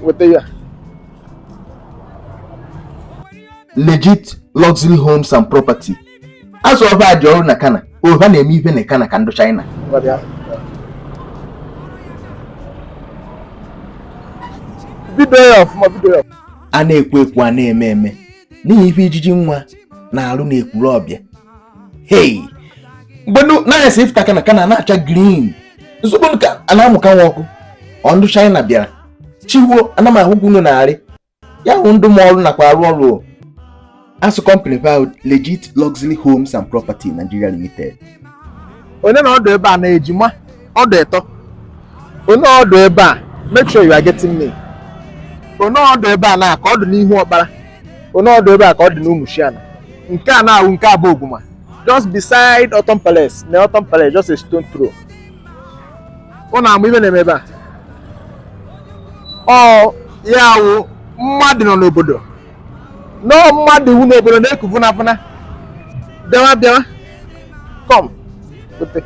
weta ya legit luxury homes and property azụ ọba dị ọrụ na Kana o ha na-eme ihe na Kana ka ndụ China a na-ekwu ekwu a na-eme eme n'ihi ife ijiji nwa na-alụ na Ekwulobia hei mgbedu naghị esi ifta kana kana na-acha green nsogbu ka a na-amụka nwa ọkụ ọ ndụ China bịara chiwo ana m ahụ unu na-arị ya hụ ndụ m ọrụ nakwa arụ ọrụ asụ company pa legit luxury homes and property nigeria limited onye na ọdụ ebe a na-ejima ọdụ ịtọ onye ọdụ ebe a make sure you are getting me onye ọdụ ebe a na ka ọ dị n'Ihuokpala onye ọdụ ebe a ka ọ dị n'Ụmụchiana nke a na-awụ nke Abogwume just beside Orthon Palace na Orthon Palace just a stone throw ọ na-amụ ibe na-eme ebe a ọ ya wụ mmadụ nọ n'obodo nọọ mmadụ iwu n'obodo na-eku vụnafụna bịawa bịawa come ote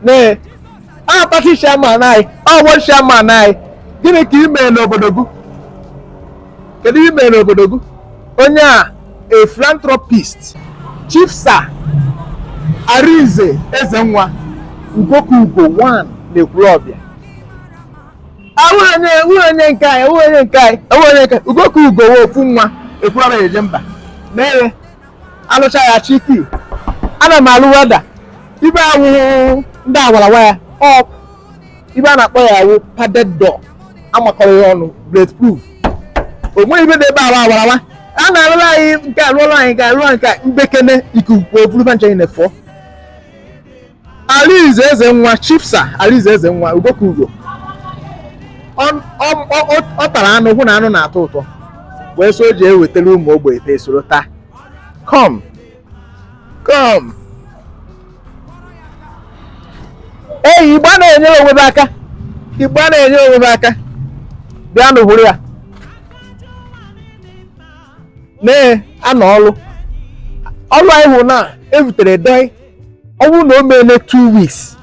nee a party chairman anyị ọ bụ chairman anyị gịnị ka ị mere n'obodo gị kedu ihe ị mere n'obodo gị onye a a philanthropist chief sir Arinze Ezenwa ugoka ugo 1 na Ekwulobia onye nke anyị onye nke anyị onye nke ugoka ugo wee ofu nwa Ekwulobia eje mba mere alụcha ya chiki ana m alụ welder ibe awụhụ ndị awarawa ya ọ ibe a na-akpọ ya awụ padded door amakọrọ ya ọnụ bulletproof o nweghị ibe dị ebe awa awarawa a na-alụrụ anyị nke alụọrụ anyị ga-alụ nke mbekene ikuku eburu banjanye na-efọ Arinze Ezenwa Chief Sir Arinze Ezenwa Ugoka Ugo ọ tara anụ hụ na anụ na-atọ ụtọ wee so o ji ewetara ụmụ ogbenye ta esoro taa kom kom eyi Igbo na-enyere onwe aka Igbo na-enyere onwe aka bịanụ hụrụ ya na-anọ ọrụ ọrụ anyị hụ na ebutere dọị ọ bụrụ na o meele two weeks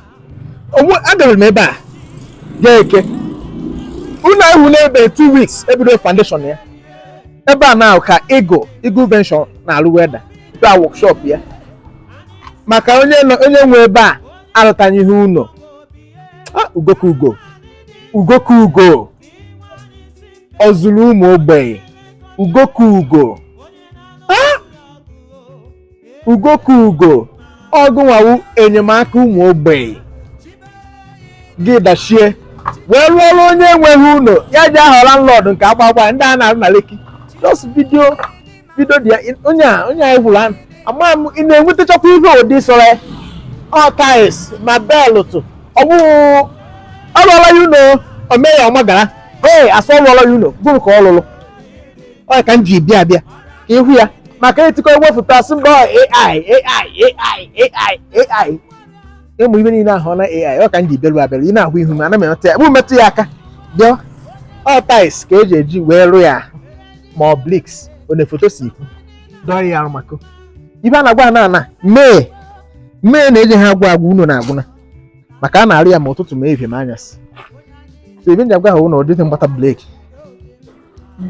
agara m ebe a ga Eke unu ahụ n'ebe two weeks ebido foundation ya ebe a na ka Eagle Eagle Venture na-arụ welder ebe a workshop ya maka onye onye nwe ebe a alụtaghị ihe ụlọ ugoka ugo ugoka ugo ọ zụrụ ụmụ ogbenye ugoka ugo ugo ka ugo ọ gụnwa wụ enyemaka ụmụ ogbenye gị dachie wee rụọ ọrụ onye enweghị ụlọ ya ji aha landlord nke agbagba ndị a na-arụ na Lekki just video video dị ya onye a onye anyị gwụrụ anụ ama m ị na-enwetachakwa ihe ụdị sọrọ ya ọ tiles ma belụtụ ọ bụghị ọ rụọla ya ụlọ omee ya ọma gara ee asọ rụọla ya ụlọ gụrụ ka ọ lụrụ ọ ka m ji bịa abịa ka ịhụ ya maka etikọ ewepụta sị mba ọ AI AI AI AI AI ịmụ ibe niile ahụ na AI ọ ka m ji bịaru abịaru ị na-ahụ ihu m ana m emetụ ya bụ metụ ya aka bịa ọ tiles ka eji eji wee rụ ya ma ọ bricks ọ na-efoto si ikwu dọọ ya arụ maka ibe a na-agwa na ana mee mee na-eji ha agwa agwa unu na-agwụna maka a na-arụ ya ma ụtụtụ ma ehihie ma anyasị so ibe nji agwa ha ụnụ ọ dịghị mgbata break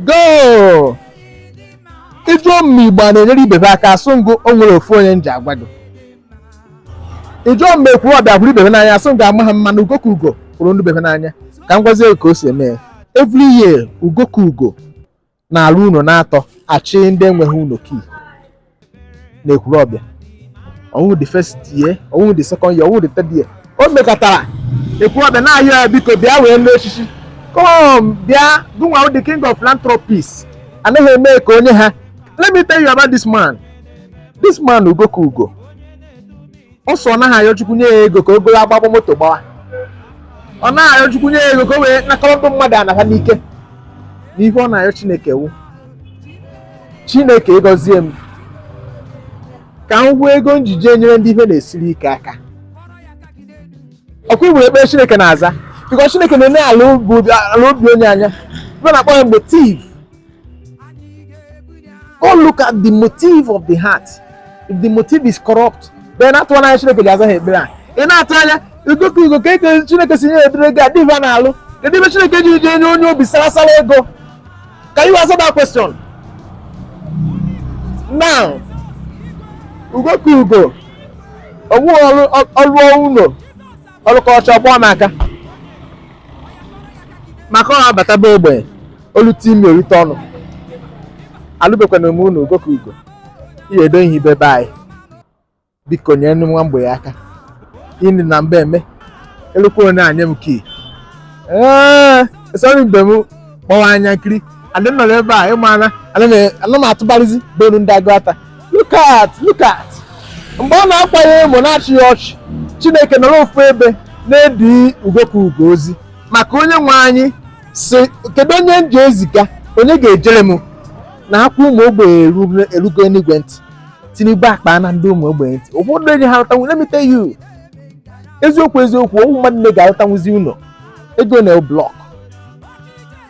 goo ị jụọ m ma Igbo a na-enyere ibe ha aka asụ m gụ o nwere ofu onye m ji agwa gị ị jụọ m ma Ekwulọbịa hụrụ ibe be n'anya asụ m gụ amaha m mana ugo ka ugo hụrụ ndị bebe n'anya ka m gwazie ka o si eme ya every year ugo ka ugo na-alụ unu na-atọ achị ndị enweghị unu key na Ekwulọbịa ọ wụhụ the first year ọ wụhụ the second year ọ wụhụ the third year o mekọtara Ekwulọbịa na-ayọ ya biko bịa wee lụọ echichi kom bịa gụnwa the king of philanthropist anaghị eme ka onye ha let me tell you about this man this man ugo ka ugo ọ sọ ọ naghị ayọ chukwu nye ya ego ka o goro agbagba moto gbawa ọ naghị ayọ chukwu nye ya ego ka o wee nakọrọ ndị mmadụ ana ha n'ike na ihe ọ na-ayọ chineke wu chineke ị gọzie m ka m hụ ego m ji jee nyere ndị ihe na-esiri ike aka ọkwa igbo ekpere chineke na-aza because chineke na-ene ala obi onye anya ibe na-akpọ ya motive God look at the motive of the heart. If the motive is corrupt, then atụ anya Chineke ji aza ha ekpere a. Ị na-atụ anya Ugo ka Ugo ka eke Chineke si nye edere gị adịghị a na-alụ. Kedu ebe Chineke ji je nye onye obi sarasara ego? Can you answer that question? Now, Ugo ka Ugo, onwe ọrụ ọrụ ụlọ ọ lụkọcha ọgbụọ m aka maka ọ abata be ogbenye o lute imi o lute ọnụ alụbekwana m unu ugo ka ugo ihe edo ihe ibe be anyị biko nyere ndị nwa mgbei aka ịnị na mba eme elukwa onye enye m key ee esọrọ mgbe m kpọwa anya nkiri adị m nọrọ ebe a ịmara ana m atụbarịzi bonu ndị agụ ata look at look at mgbe a na-akwa ya emo na-achị ya ọchị chineke nọrọ ofu ebe na-edi ugo ka ugo ozi maka onye nwe anyị sị kedu onye m ji eziga onye ga-ejere m na akwa ụmụ ogbenye eru- erugo enigwe ntị tinubu akpana ndị ụmụ ogbenye ntị ụfọdụ enyi ha alụtanwu let me tell you eziokwu eziokwu ọ wụ mmadụ nne ga-alụtanwuzi ụlọ ego na blọk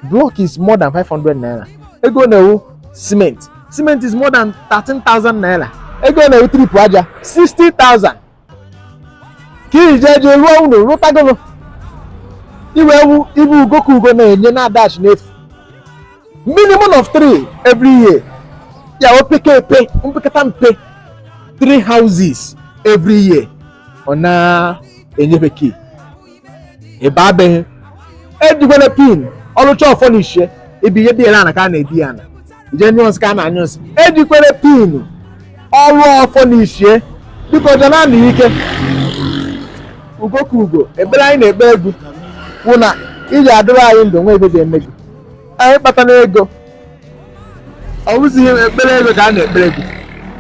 blọk is more than 500 naira ego na-ewu simenti cement is more than 13,000 naira ego ọ na-ewu trip aja 60,000 ka ị ji jee jee rụọ ụlọ rụtagolo iwe ewu ibu ugo ka ugo na-enye na-adashi n'efu minimum of three every year ya opeke epe mpekata mpe three houses every year ọ na-enyefe key ebe abeghị ejikwele pin ọ lụcha ọ furnishie ebe ihe dị ya na ka a na-edi ya na jenyụs ka a na-anyụ nsị ejikwere pin ọ rụọ ọ furnishie biko jana na ike ugo ka ugo ekpere anyị na-ekpe gị wụ na ị ji adịrị anyị ndụ nwa ebe ga-eme gị anyị kpatara ego ọ bụzighị ekpere ego ka a na-ekpere gị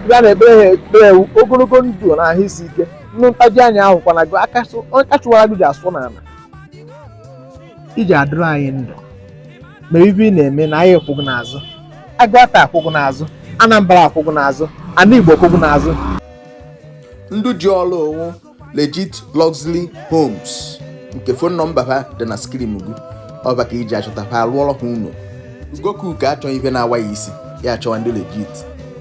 ndị a na-ekpere ha ekpere wụ ogologo ndụ na ahụ isi ike ndị ntaji anya ahụkwana gị aka chụwara gị ji asụ n'ala ị ji adịrị anyị ndụ ma ibe ị na-eme na anyị akwụ gụ n'azụ agụata akwụ gụ n'azụ anambra akwụ gụ n'azụ ana igbo akwụ gụ n'azụ ndị ji ọrụ a wụ legit luxury homes nke fon nọmba ha dị na skrin gị ọ ba ka ị ji achọta ha arụọrọ ha ụlọ ugo ka ugo achọghị ife na-awa ya isi ya achọwa ndị legit